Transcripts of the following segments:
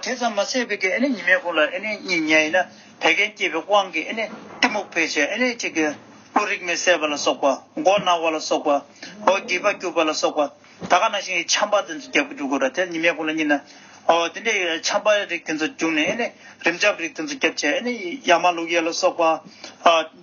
དེ་ཙམ་མ་ཟད་པའི་ཉི་མའི་སྐུ་ལ་གཉིས་བརྙས་ཡིན་ན་བད་ཀན་སྐྱེས་པའི་དབང་གིས་གཏི་མུག་འཕེལ་ཕྱིར་གཅིག་གི་སྐུ་རིག་མེད་སད་པ་ལ་སོགས་པ་མགོ་ན་བ་ལ་སོགས་པ་འོ་བརྒྱལ་བ་སྐྱུགས་པ་ལ་སོགས་པ་ད་ག་ན་ཞིང་གི་ཆམ་པ་དེ་ཚོ་རྒྱབ་ཀྱི་འགྲོ་དགོས་ར་དེར་ཉི་མའི་སྐུ་ལ་གཉིས་ན་འོ་དེ་འདྲའི་ཆམ་པ་རིགས་དེ་ཚོ་བྱུང་ནས་རིམས་ཆམ་རིགས་དེ་ཚོ་རྒྱབ་ཕྱིར་ཡ་མ་ལུག་ཡལ་ལ་སོགས་པ།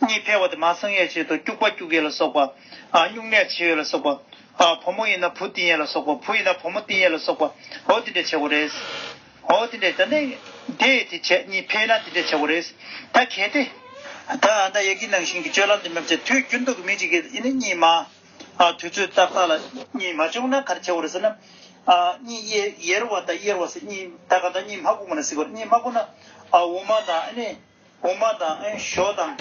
གཉིད་འཕེལ་བ་དེ་མ་སངས་ཡས་ཆེད་དུ་སྐྱུགས་པ་སྐྱུགས་ཡས་ལ་སོགས་པ། སྨྱུང་གནས་བྱེད་ཡས་ལ་སོགས་པ། བུ་མོ་ཡིན་ན་བུ་བཏིང་ཡས་ལ་སོགས་པ་བུ་ཡིན་ན་བུ་མོ་བཏིང་ཡས་ལ་སོགས་པའོ་དེ་འདྲའི་བྱེད་སྒོ་རེད། འོ་དེ་འདྲའི་ད་ནི། དེ་དེ་བྱས་གཉིད་འཕེལ་ན་དེ་འདྲའི་བྱེད་སྒོ་རེད། ད་གལ་ཏེ། ད་ཨ་མདའ་ཡག་གི་ནང་བཞིན་གྱི་སྤྱོད་ལམ་དེ་མི་བྱེད་དུས་རྒྱུན་དུ་མི་གཅིག་གིས་ཨེ་ནི་གཉིད་མ། དུས་ཚོད་ཏག་ཏག་ལ་གཉིད་མ་བྱུང་ན་ག་རེ་བྱེད་སྒོ་རེད་ཟེར་ན། གཉིད་ཡེར་བ་དང་གཡེར་བ་སེ་གཉིས་ད་ག་ད་གཉིད་མ་བསྐུངས་པ་ན་གཟིགས་པ་གཉིད་མ་བསྐུངས་ན་འོ་མ་དང་ཨེ་ནི། དབུ་མ་དང་ཨེ་ཞོ་དང།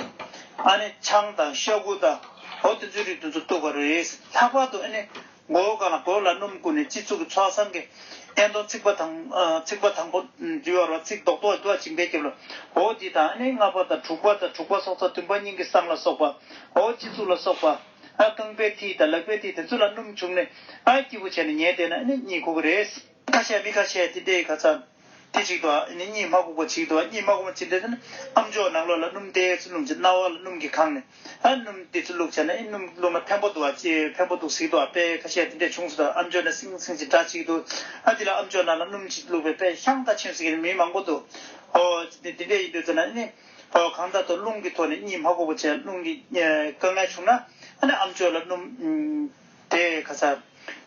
ཨ་ནི་ཆང་དང་ཤ་ཁུ་དང། འོ་དེ་ཚོའི་རིགས་དེ་ཚོ་བཏུགས་པ་རེད། ལྷག་པར་དུ་ཨེ་ནི་མགོ་བོ་གང་ལ་གོས་ལ་སྣུམ་བསྐུས་ནས་སྤྱི་གཙུག་གི་ཚོགས་བསང་གི་ཨེ་མདོ་རྩིག་པ་དང། རྩིག་པ་དང་པོ་འདུལ་བ་རོ་རྩིག་རྡོག་རྡོག་འདུལ་བ་བྱིན་འབེབས་བརྒྱབ་ལ། འོ་དེ་དང་ཨེ་ནི་ལྔ་པ་དང་དྲུག་པ་དང་དྲུག་པ་སྲོག་རྩ་བདུན་པ་སྙིང་གི་བསང་ལ་སོགས་པ། འོ་སྤྱི་གཙུག་ལ་སོགས་པ། ཨ་རྐང་པའི་མཐིལ་དང་ལག་པའི་མཐིལ་དེ་ཚོ་ལ་སྣུམ་བྱུགས་ནས། ཨ་སྐྱིད་པོ་བྱས་ནས་ཉལ་བསྡད་ན་ཨེ་ནི་གཉིད་ཁུག་གི་རེད། ཁ་ཤས་མི་ཁ་ཤས་ཏི་ཏའི་ཁ་ཚ། དེ་གཅིག་ཏུ་ཨ་ནི་གཉིས་མ་གུག་པ་གཅིག་ཏུ་གཉིས་མ་གུག་མ་གཅིག་འདྲེས་ཏེ་ནི་ཨ་མཆོག་ནག་ལོ་ལ་སྣུམ་ཏའི་ཚུལ་བླུག་ཅིང་རྣ་བ་ལ་སྣུམ་གྱིས་གང་ནས་ཨ་སྣུམ་ཏའི་ཚུལ་བླུག་བྱས་ན་ཨི་སྣུམ་བླུག་ན་བེམ་པོ་འདུག་ཨ་བེམ་པོ་འདུག་ཟིག་ཏུ་ཨ་དཔལ་ཁ་ཤས་ཏི་འདྲེས་བྱུང་ཟིག་ཏུ་ཨ་མཆོག་ནས་སིང་སིང་ཅིག་སྒྲ་གཅིག་ཏུ་ཨ་དེ་ལ་ཨ་མཆོག་ནག་ལ་སྣུམ་གཅིག་བླུག་པའི་དཔལ་ཤང་ད་ཕྱིན་ཟིག་གི་ནི་མི་མང་པོ་འདུག་ཨོ། དེ་འདྲེས་ཡིན་དུས་ཟེར་ན་ཨི་ནི་ཨོ་གང་ད་དུ་རླུང་གི་ཐོག་ནས་གཉིས་མ་གུག་པ་བྱས་རླུང་གི་དཀའ་ངལ་བྱུང་ན་ཨ་ནི་ཨ་མཆོག་ལ་སྣུམ། དེ་ག་ས།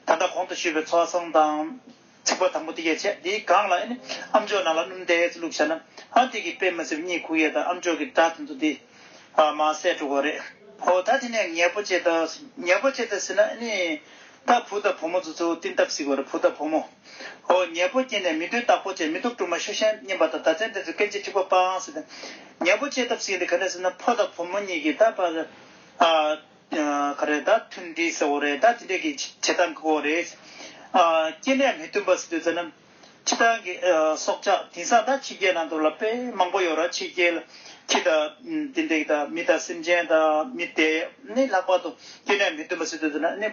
ད་ལྟ་གོང་དུ་ཞུས་པའི་ཚོགས་གསང་དང། ཚིག་པ་དང་པོ་དེ་ཡས་ཆད་དེའི་སྒང་ལ་ཨནི་ཨམ་མཆོག་ནང་ལ་སྣུམ་བརྡལ་ཙི་བླུགས་བྱ་ན། ཨ་དེ་གི་པད་མ་སེ་བུ་གཉིས་ཁུག་ཡས་དང་ཨམ་མཆོག་གི་སྒྲ་དེ་ཚོ་དེ། ཨ་མ་སེ་དྲུག་གོ་རེད། ཨོ་ད་དེ་ནས་ངས་པོ་ཅེ་ད། ངས་པོ་ཅེ་ད་ཟེར་ན་ཨནི། ད་བུ་དང་བུ་མོ་ཚོ་ཚོའུ་ཏིན་སྟབས་ཟིག་གོ་རེད་བུ་དང་བུ་མོ། ཨོ་ངས་པོ་སྐྱེས་ནས་མི་དོན་དག་པོ་བྱས་མི་ཐུབ་དཀྲུག་མ་ཤོད་ཤན་མཉེན་པ་དང་ད་ཚན་དེ་ཚོ་སྐད་ཅིག་འཁྲིག་པ་སྤང་ཟེར་ཏེ། ངས་པོ་ཅེས་སྟབས་ཟིག་ཡིན་དེ་ག་ནས་ཟེར་ན་ཕོ་དང་བུ་མོ་གཉིས་ཀྱིས་ད་པ། ག་རེད་ད་ཐུན་བསྡུས་ཟེར་བོ་རེད་ད་དེ་འདྲས་ཀྱི་བྱེད་སྟངས་ཀྱི་བོ་རེད། སྐྱེ་གནས་མི་མཐུན་པ་ཟེར་དུས་ཟེར་ན། ཁྱི་སྤྲང་གི་སྲོག་ཆགས་དེང་སང་ད་ཕྱི་རྒྱལ་ནང་དུ་ལ་པའི་མང་པོ་ཡོད་ར་ཕྱི་རྒྱལ་ཁྱི་དང་དེ་འདྲས་ཀྱི་དང་མི་དང་སེམས་ཅན་དང་མི་དེ་ནི་ལྷག་པར་དུ་སྐྱེ་གནས་མི་མཐུན་པ་ཟེར་དུས་ཟེར་ན་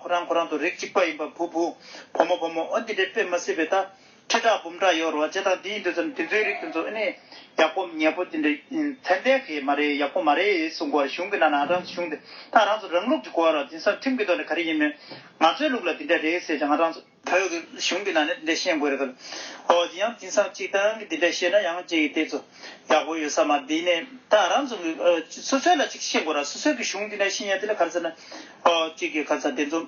ཁོ་རང་ཁོ་རང་དུ་རིགས་གཅིག་པ་ཡིན་པ་བུ་བུ་བུ་མོ་བུ་མོ་འོ་འདི་འདྲས་དཔེ་མ་སྲིད་པའི་ད། ཁྲི་ཕྲག་འབུམ་ཕྲག་ཡོད་རོ་ཅེས་དང་དེ་ཡིན་དུས་སམ་དེ་ཚོའི་རིགས་དེ་ཚོ་ཨེ་ནི་ཡག་པོ་ཉེས་པོ་དེ་འདྲ་ཚད་ལྡན་གི་མ་རེད་ཡག་པོ་མ་རེད་ཡིན་གསུང་གོ་གཞུང་གི་ནང་ན་རང་གཞུང་དེ་དང་རང་ཚོ་རང་ལུགས་ཀྱི་གོ་བ་རོ་དེང་སང་ཁྲིམས་ཀྱི་ཐོག་ནས་ག་རེ་ཡིན་མོད་ང་ཚོའི་ལུགས་ལ་དེ་འདྲ་རེད་ཟེར་ཀྱང་རང་ཚོ་བོད་ཀྱི་གཞུང་གི་ནང་ནས་དེ་འདྲ་ཤེས་དགོས་རེད་གི། ཨོ་དེ་ཡང་དེང་སང་སྤྱིར་བཏང་གི་དེ་འདྲ་ཤེས་ན་ཡང་ཅི་ཡིན་དེ་ཚོ་ཡག་པོ་ཡོད་ས་མ་དེ་ནས་ད་རང་ཚོ་གི་སོ་སོའི་ལ་ཅིག་ཤེས་དགོས་ར་སོ་སོའི་གི་གཞུང་དེ་འདྲ་ཤེས་ཡ་དེ་ལ་ག་རེ་ཟེར་ན་ཨོ་གཅིག་གི་ག་ཚ་དེ་ཚོ་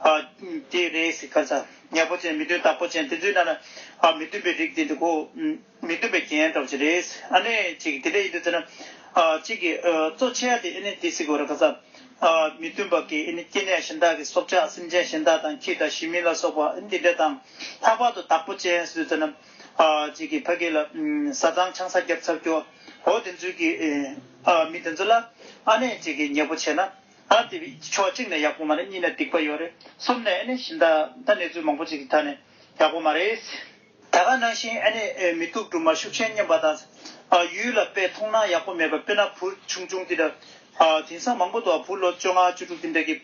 ཨ། ཀྱེ་རེ་སིག་ཁ་ཚ། ཉེར་པོ་ཅན་མི་མཐུན་རྟགས་པོ་ཅན་དེ་ཚོའི་ནང་ན་མི་མཐུན་པའི་རིགས་དེ་འདུག་གོ། མི་མཐུན་པའི་རྒྱན་གྲོགས་ཅི་རེད། ཨ་ནི་ཅིག་དེ་འདྲ་ཡིན་དུས་ཚོད་ན། ཅིག་གིས་གཙོ་ཆེ་ཡ་དེ་ཨེ་ནི་དེ་སིག་གོ་ར་ཁ་ཚ། མི་མཐུན་པ་ཀྱི་ཨེ་ནི་སྐྱེ་གནས་གཞན་དག་གི་སྲོག་ཆགས་སེམས་ཅན་གཞན་དག་དང་ཁྱི་དང་ཞི་མི་ལ་སོགས་པ་ཨེ་ནི་དེ་འདྲ་དང། ལྷག་པར་དུ་རྟགས་པོ་ཅན་སིག་དུས་ཚོད་ན། ཅིག་གིས་ཕ་གི་ལ་བཟའ་ཚང་ཆང་ས་རྒྱབ་ཚར་རྒྱུ། འོ་དེ་ཚོའི་གི། མི་དེ་ཚོ་ལ། ཨ་ནི་ཅིག་གིས་ཉེར་པོ་ཆེ་ན། ཨ་དེ་ཕྱོགས་གཅིག་ནས་ཡག་པོ་མ་རེད་གཉིས་ནས་སྡིག་པ་ཡོད་རེད་གསུམ་ནས་ཨེ་ནས་ཞིན་ད་ད་གནས་ཚུལ་མང་པོ་ཅིག་གི་ཐ་ནས་ཡག་པོ་མ་རེད། ད་ག་ནང་བཞིན་ཨེ་ནས་མི་སྡུག་སྦྲུམ་མ་ཤུགས་ཆེན་བསྙེན་པ་དང། ཡུལ་ལ་དཔེ་མཐོང་ན་ཡག་པོ་མེད་པ་དཔེར་ན་བུ་ཆུང་ཆུང་དེ་འདྲ། དེང་སང་མང་པོ་འདུག་བུ་ལོ་བཅོ་ལྔ་བཅུ་དྲུག་དེ་འདྲ་གི་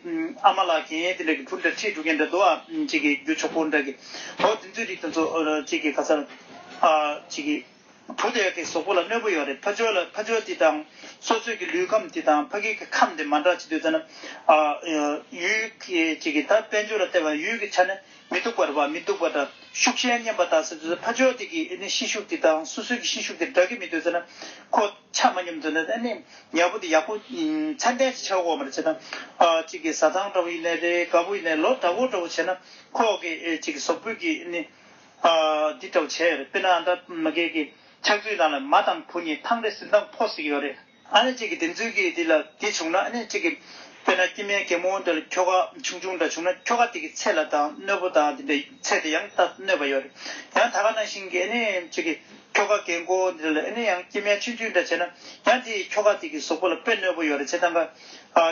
ཨ་མ་ལགས་གན་ཡེ་དེ་འདྲ་གི་བུ་འདྲ་ཁྲིད་འགྲོ་མཁན་འདྲ་འདུག་ཨ་ཅིག་གི་རྒྱུ་ཆོག་པོ་འདྲ་གི། འོ་དེ་ཚོའི་རིགས་དེ་ཚོ་ཅིག་གི་ག་ཚར་ཨ་ཅིག་གི། བུ་དེ་གའི་ཟོག་པོ་ལ་གནོད་པོ་ཡོད་རེད་ཕ་ཇོ་ལ་ཕ་ཇོ་དེ་དང་སོ་སོས་ཀྱི་ལུས་ཁམས་དེ་དང་ཕ་གིའི་གི་ཁམས་དེ་མ་འདྲ་བྱེད་འདོད་ཚེ་ན་ཡུལ་གྱི་གི་ད་དཔལ་འབྱོར་ལ་བལྟས་པ་ཡུལ་གྱི་ཆ་ནས་མི་སྡུག་པ་རེད་བ་མི་སྡུག་པ་འདྲ་ཤུགས་ཞན་སྙམ་པ་ད་ཟེར་འདོད་ཚེ་ཕ་ཇོ་དེ་གི་ནི་ཤི་ཤུགས་དེ་དང་སོ་སོའི་གི་ཤི་ཤུགས་དེ་འདྲ་གི་མི་འདོད་ཚེ་ན་ཁོ་ཆ་མ་སྙོམ་འདོད་འདོད་ནི་ཉལ་པོ་དེ་ཡག་པོ་ཚད་ལྡན་ཅིག་བྱ་འོག་མ་རེད་བྱས་ན་གཅིག་གི་ཟ་ཐང་འདྲ་བོ་ཡིན་ནའི་རེད་དགའ་པོ་ཡིན་ནའི་ལོ་འདྲ་བོ་འདྲ་བོ་བྱས་ན་ཁོ་གི་གཅིག་གི་ཟོག་པོའི་གི་ནི། འདི་འདྲ་བོ་བྱས་ཡོད་རེད་དཔེར་ན་ཨ་མྲ་མི་རྒས་ཀྱི་ཕྱག་མཛོད་ནང་ལ་མ་དང་བུ་གཉིས་ཐང་རེ་ཟིན་དང་ཕོ་ཟིག་ཡོད་རེད། ཨ་ནེ་གཅིག་གིས་བདེན་རྫུན་གྱི་དེ་ལ་དེ་བྱུང་ན་ཨ་ནེ་གཅིག་གིས་དཔེར་ན་སྐྱི་སྨན་གད་མོ་འདྲ་ལ་ཁྱོ་ག་ཆུང་ཆུང་འདྲ་བྱུང་ན་ཁྱོ་ག་དེ་གི་ཚད་ལ་དང་གནོད་པོ་དང་དེ་འདྲ་ཚད་དེ་ཡང་ད་གནོད་པ་ཡོད་རེད། ཡང་ད་ག་ནང་བཞིན་གྱི་ཨ་ནེ་གཅིག་གིས་ཁྱོ་ག་གད་མགོ་འདི་འདྲ་ལ་ཨ་ནེ་ཡང་སྐྱི་སྨན་ཆུང་ཆུང་འདྲ་བྱས་ན་ཡང་དེ་ཡིས་ཁྱོ་ག་དེ་གི་ཟོག་པོ་ལ་དཔེ་གནོད་པོ་ཡོད་རེད་བྱས་ཙང་ཀ།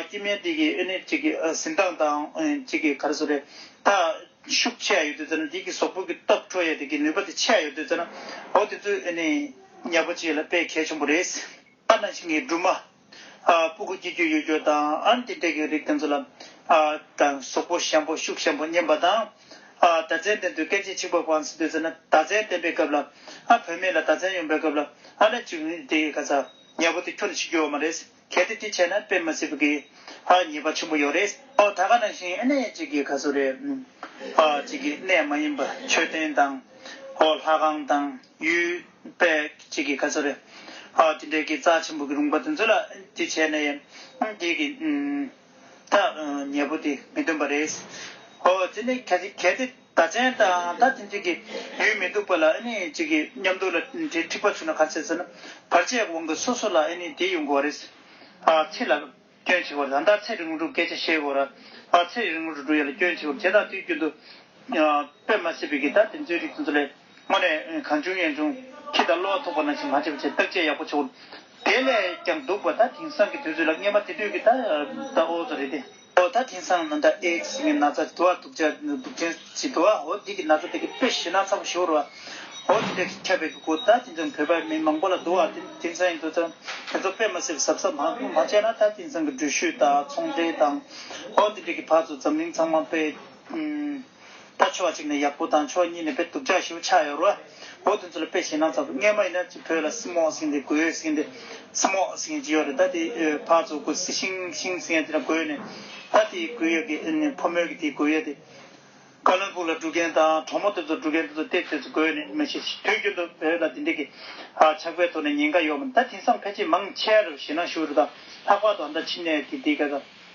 སྐྱི་སྨན་དེ་གིས་ཨ་ནེ་གཅིག་གི་ཟིན་དང་དང་གཅིག་གིས་ག་རེ་ཟོ་རེད་ད། ཤུགས་ཆད་ཡོད་དུས་ཙང་དེ་གི་ཟོག་ཕུག་གི་སྟོབས་འཕྲོ་ཡས་དེ་གི་ནུས་པ་དེ་ཆད་ཡོད་དུས་ཙང་ཨོ་དེ་ཚོས་ཨེ་ནས་ཉག་པོ་བྱས་ལ་དཔེ་གལ་ཆེན་པོ་རེད། ཨ་ན་ཤིང་གི་སྦྲུམ་མ། སྤུ་གུ་སྐྱེ་རྒྱུ་ཡོད་རྒྱུ་དང་ཨན་ཏི་ཏྲེ་གི་རིགས་དེ་ཚོ་ལ། དང་ཟོག་པོ་ཞན་པོ་ཤུགས་ཞན་པོ་མཉམ་པ་དང། ད་ཙན་དན་དུ་སྐད་ཆས་ཆིག་པ་བང་ཟིན་དུས་ཙང་ད་ཙན་བསྟན་པའི་སྐབས་ལ། བོད་མི་ལ་ད་ཙན་ཡོང་པའི་སྐབས་ལ་ཨ་ན་ཅིག་དེ་ག་ཚ་ཉག་པོ་དེ་ཁྱོ་ན་ཤི་རྒྱུ་བ་མ་རེད། གལ་ཏེ་དེ་བྱས་ན་དཔེ་མི་སྲིད་གི། ཧ་ཉེས་པ་ཆེན་པོ་ཡོད་རེད། ཨོ་ད་ག་ནང་བཞིན་ཨེ་ནས་ཅིག་གི་ག་ཚོད་རེད། ཨ་ཅིག་གི་གནས་མ་ཡིན་པ་མཆོད་རྟེན་དང། ཨོ་ལྷ་ཁང་དང་ཡུལ་དཔལ་ཅིག་གི་ག་ཚོད་རེད། ཨ་དེ་འདྲའི་གི་རྩ་ཆེན་པོ་གི་རུང་པ་དེ་ཚོད་ལ་དེ་བྱས་ནས་དེ་གི། ད་ཉེས་པོ་དེ་མི་འདོན་པ་རེད། ཨོ་དེ་ནས་གལ་ཏེ། ད་ཆེན་དང་ད་ཐེངས་ཅིག་གི་ཡུལ་མི་སྡུག་པ་ལ་ཨེ་ནི་ཅིག་གི་མཉམ་སྡུག་ལ་དེ་འཁྲིག་པ་བྱུང་ན་ག་ཚད་ཟེར་ན་བར་ཆད་དབང་གི་སོ་སོ་ལ་ཨེ་ནི་དེ་ཡོང་གོ་རེད། ཚེ་ལ་སྐྱོན་ཆེ་བར་ད་ད་ཚེ་རིང་བོ་འགྲུབ་སྐད་ཆ་བཤད་གོ་ར། ཚེ་རིང་བོ་འགྲུབ་ཡ་ལ་སྐྱོན་ཆེ་བར་དེ་དང་དུས་རྒྱུན་དུ་དཔེ་མ་སྲིད་པའི་གི་ད་དེ་ཚོའི་རིགས་དེ་ཚོ་ལས། སྔོན་རེ་གང་བྱུང་ཡན་བྱུང་ཁྱི་དང་གློ་བ་ཐུག་པ་ནང་བཞིན་མ་བྱེད་པ་བྱེད་བརྟག་དཔྱད་ཡག་པོ་བྱེད། དེ་ལས་ཀྱང་སྡུག་པ་ད་དེང་སང་གི་དུས་ཚོད་ལ་བརྙན་པ་དེ་དུས་ཀྱི་ད་ཨོ་ཚོ་རེད་དེ། ཨོ་ད་དེང་སང་ན་ད་ཨེ་ཤི་ངའི་ན་ཚ་དུ་བ་དུག་ཅག་དུག་ཆེན་ཞིག་དུ་བ་ཨོ་འདི་གི་ན་ཚ་དེ་གི་དཔེ་ཤེས་ན་ཚ་པོ་ཞིག་བོར་བ་ཨོ་དེ་འདྲ་ཁྱབ་པའི་གི་གོ་ད་དེང་སང་བོད་པ་མི་མང་པོ་ལ་དུ་བ་ཨོ་དེང་སང་ཡིན་དུ་ད་དེ་ཚོ་དཔེ་མ་སེ་བ་ཟབ་ཟབ་མང་མང་བྱས་ན་ད་དེང་སང་གི་འགྲུལ་བཞུད་དང་ཚོང་འབྲེལ་དང་ཨོ་དེ་འདྲ་གི་བར་དུ་འཛམ་གླིང་ཚང་མ་དཔེ། ད་ཕྱོགས་གཅིག་ནས་ཡག་པོ་དང་ཕྱོགས་གཉིས་ནས་དཔེ་དུག་ཅག་ཞིག་ཆགས་ཡོད་རོ། འོ་དེ་ཚོ་ལ་དཔེ་བྱས་ན་ཚ་བོ་ངས་མ་ཡིན་ན་ཅི་བོད་ལ་སི་མོག་སིན་ཏེ་གོས་སིན་ཏེ། Smoke Sing། ཅིག་ཡོད་རེད་ད་དེ་ཕག་ཚོ་གོས་སི་ཤིང་ཤིང་སིན་ཡ་དེ་འདྲ་གོས་ནས། ད་དེ་གོས་ཡོད་ཀི་ཕོ་མོ་གི་དེ་གོས་ཡོད་དེ། ཀ་ལོན་པུར་ལ་འགྲོ་མཁན་དང་གྲོགས་མོ་དེ་ཚོ་འགྲོ་མཁན་དེ་ཚོ་དེ་དེ་ཚོ་གོས་ནས་མ་ཤེས་ཤི་དུས་རྒྱུན་དུ་བོད་ལ་དེ་འདྲི་གི། ཆགས་པའི་ཐོག་ནས་ཉེན་ཁ་ཡོད་མ་རེད་ད་དེང་སང་ཕལ་ཆེར་མང་ཆེར་ཞེ་ན་ཤུ་རི་དང་ལྷག་པར་དུ་ཨ་མདའ་ཕྱི་ནས་གི་དེ་ག་ས།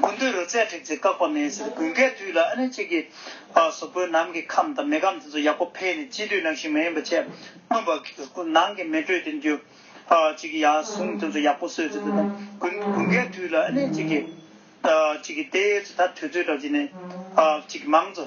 དགུན་དུས་རོལ་རྩེད་སྒྲིག་རྩེ་བཀག་པ་མེད་ཟེར་དགུན་ཁའི་དུས་ལ་ཨ་ནེ་གཅིག་གིས་བཟོ་བཀོད་ནམ་གྱི་ཁམས་དང་མེ་ཁམས་དེ་ཚོ་ཡག་པོ་འཕེལ་ནས་དཔྱིད་དུས་ནང་ཞིག་མ་ཡིན་པ་ཆད་སྔོན་པ་ནང་གི་མེ་དྲོད་དེ་འགྱུར། གཅིག་གིས་ཡག་ཟུང་དེ་ཚོ་ཡག་པོ་གསོས་ཚེ་དེ་དང་དགུན་དགུན་ཁའི་དུས་ལ་ཨ་ནེ་གཅིག་གིས། གཅིག་གིས་དེ་ཚོ་ད་དུས་ཚོད་དྲག་ཅིག་ནས། གཅིག་གིས་མང་ཚོ།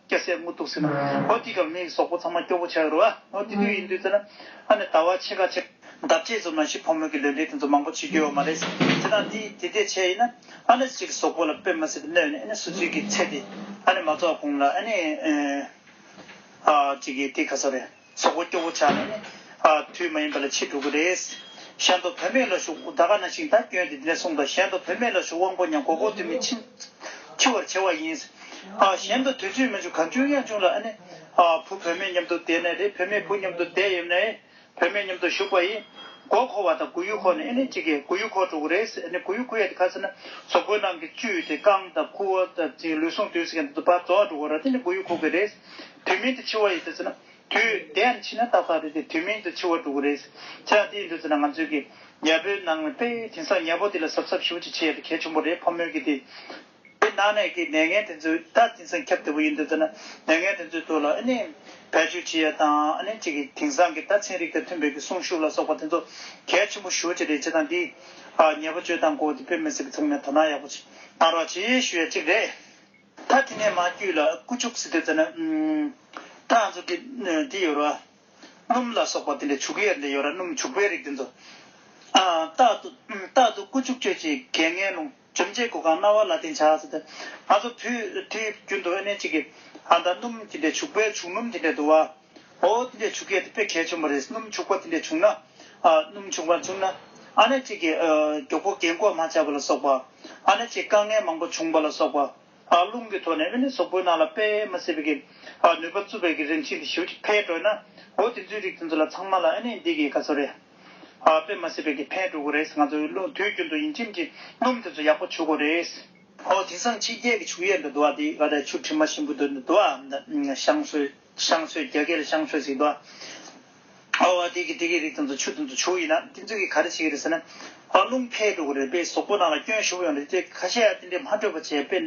སྐྱ་སེར་སྔོ་སྟུག་སེར་ནག། ཧོ། སྐྱི་ཀར་མིག་སོག་པོ་ཚང་མ་སྐྱོ་པོ་ཆགས་རོ། ཧོ། དེ་དུས་ཡིན་དུས་ཚོད་ན། ཨ་ནི་ད་བ་ཕྱེད་ཀ་ཕྱེད། འདབ་བརྒྱད་རྫུབ་ན་ཤི་ཕོ་མོ་གི་ལུས་འབྲེལ་དེ་ཚོ་མང་པོ་བྱེད་རྒྱུ་ཡོད་མ་རེད། དེ་དང་དེ་དེ་དེ་ཕྱེད་ཡིན་ན། ཨ་ནི་ཅིག་སོག་པོ་ལ་དཔེ་མ་སྲིད་པའི་སྣོད་ནི་ཨ་ནི་སུ་ཚུལ་གྱི་ཚད་དེ། ཨ་ནི་མ་རྫོགས་གོང་ལ་ཨ་ནི། ཨ། ཅིག་གི་དེ་ཁ་སོ་རེད། ཚོགས་པ་སྐྱོ་བོ་ཆགས་ནས་ནི། དུས་མ་ཡིན་པ་ལ་ཕྱིར་འགྲོ་གི་རེད། གཞན་དོ་བོད་མེད་ལ་ཞུགས་ཨུ་ད་ཀ་ན་ཤིང་རྟ་བསྐྱོན་ཏེ་འདི་ནས་གསུངས་དང་གཞན་དོ་བོད་མེད་ལ་ཞུགས་དབང་པོ་ཉམས་གོ་གོ་དུས་མིན་འཆི། འཆི་བར་བྱེད་བ་ཡིན། གཞན་དོ་དུས་ཚོད་མི་འཇུག་གང་བྱུང་ཡང་བྱུང་ལ་ཨ་ནི། བུ་བོད་མེད་མཉམ་དུ་བསྡད་ནས་རེད་བོད་མེད་བུ་མཉམ་དུ་བསྡད་ཡོད་ནས། བོད་མེད་མཉམ་དུ་ཞུགས་པ་ཡིན། མགོ་འཁོར་བ་དང་དགུ་ཡུ་འཁོར་ནས་ཨེ་ནི་གཅིག་གིས་དགུ་ཡུ་འཁོར་འགྲོ་གི་རེད། ཨེ་ནི་དགུ་ཡུ་ཁུ་ཡ་དེ་ཁ་ཚེ་ན་ཟོག་པོའི་ནང་གི་བཅུད་དེ་རྐང་དང་ཁུ་བ་དང་ལུས་ཟུངས་དུས་སྐད་དུ་བར་རྫོགས་འགྲོ་གི་ར་དེ་ནི་དགུ་ཡུ་འཁུར་གི་རེད། དུས་མིན་དུ་འཆི་བ་ཡོད་དུ་ཟེར་ན། དུས་དེ་ཡང་འཆི་ན་ཏག་ཏག་རེད་དེ་དུས་མིན་དུ་འཆི་བ་འགྲོ་གི་རེད། ཚེ་ཡང་དེ་ཡིན་འགྲོ་ཟེར་ན་ང་ཚོའི་གི། ཉལ་པོའི་ནང་ནས་པེ། དེང་སང་ཉལ་པོ་དེ་ལ་གཟབ་གཟབ་ཞིབ་ཅིག་བྱེད་ཡ་དེ་གལ་ཆེན་པོ་རེད་ཕོ་མོའི་གི་དེ། དེ་ནང་ནས་གི་ནད་ངན་དེ་ཚོའི་ད་དེང་སང་ཁྱབ་བདེ་པོ་ཡོད་འདུག་ཟེར་ན། ནད་ངན་དེ་ཚོའི་ཐོག་ལ་ཨེ་ནི། བེད་སྤྱོད་བྱེད་ཡ་དང་ཨེ་ནི་ཅིག་གི་དེང་སང་གི་ད་ཚན་རིག་དང་མཐུན་པའི་གི་གསུང་ཤུགས་ལ་སོགས་པ་དེ་ཚོ་གལ་ཆེན་པོ་ཞུ་ཅི་རེད་བྱེད་སྟངས་འདི། ཉལ་པོ་བཅོས་སྟངས་སྐོར་དེ་བོད་མི་སེར་པོ་ཚང་མས་དོ་སྣང་ཡག་པོ་གནང་རོགས་བྱེད་ཞུ་ཡ་གཅིག་རེད། ད་དེ་ནས་མ་རྒྱུད་ལ་སྐུ་བཅུག་ཟེར་དུས་ད་ནི། ད་ང་ཚོ་འདི་ཡོད་ར། སྣུམ་ལ་སོགས་པ་དེ་འདྲའི་བྱུག་ཡས་འདི་ཡོད་ར་སྣུམ་བྱུག་པའི་རིགས་དེ་ཚོ། རྟག་ཏུ་སྐུ་བཅུག་གཅོད་བྱེད་གད་ངན་རླུང་འཇོམས་བྱེད་གོ་གང་རྣ་བ་ལ་བརྟེན་བྱ་ཟེར་ཏེ། ང་ཚོ་དུས་དེའི་རྒྱུན་དུ་ཨེ་ནས་ཅིག་གིས་ཨ་མདའ་སྣུམ་དེ་འདྲའི་བྱུག་པའི་བྱུག་སྣུམ་དེ་འདྲའི་དུ་བ། ཨོ། དེ་འདྲའི་ཆུ་སྐྱེས་དེ་དཔེ་གལ་ཆེན་པོ་རེད། སྣུམ་ཕྱུག་པོ་དེ་འདྲ་བྱུང་ན། སྣུམ་ཕྱུག་པ་བྱུང་ན། ཨ་ན་ཅིག་གིས་མགྱོགས་པོ་རྒན་བཀོལ་མ་བྱས་པ་ལ་སོགས་པ། ཨ་ན་ཅིག་དཀའ་ངལ་མང་པོ་བྱུང་བ་ལ་སོགས་པ། རླུང་གི་ཐོག་ནས་དབེན་གནས་སོག་པོའི་ནང་ལ་སྤེལ་མ་སྲིད་པའི་ནུས་པ་རྩུབ་པའི་རིན་ཆེན་དེ་ཞིབ་ཅིག་འཕེལ་འགྲོ་ན། ཨོ་དེ་ཚོའི་རིགས་དེ་ཚོ་ལ་ཚང་མ་ལ་ཨ་ནི་འདི་གི་ག་ཚོད་རེད། སྤེལ་མ་སྲིད་པའི་འཕེལ་འགྲོ་གི་རེད། ང་ཚོ་དུས་རྒྱུན་དུ་ཡིན་ཕྱིན་གྱི་སྣུམ་དེ་ཚོ་ཡག་པོ་ཕྱུག་གི་རེད། ཨོ་དེང་སང་ཕྱི་རྒྱལ་གྱི་ཕྱུགས་ཡས་འདུ་བ་དེ་ག་ད་ཆུ་དྲི་མ་ཞིམ་པོ་འདུ་བ། ཞང་ཧྲུལ། བཤང་ཚོས་རྒྱ་སྐད་ལ་བཤང་ཚོས་ཟེར་གི། ཨ་བ་དེ་གི་དེ་གི་རིགས་དང་དུ་ཆུ་དང་དུ་ཆུ་ཡིན་ན་དེ་ཚོས་གི་ག་རེ་བྱེད་ཀྱི་རེད་ཟེར་ན། ཨ་རླུང་འཕེལ་འགྲོ་གི་རེད་པས་ཟོག་པོ་རྣམས་ལ་སྐྱོན་ཞུགས་ཡོང་རེད་ཅེས་ཁ་ཤས་དེ་འདྲས་མ་སྤྲོད་པ་བྱས་པས།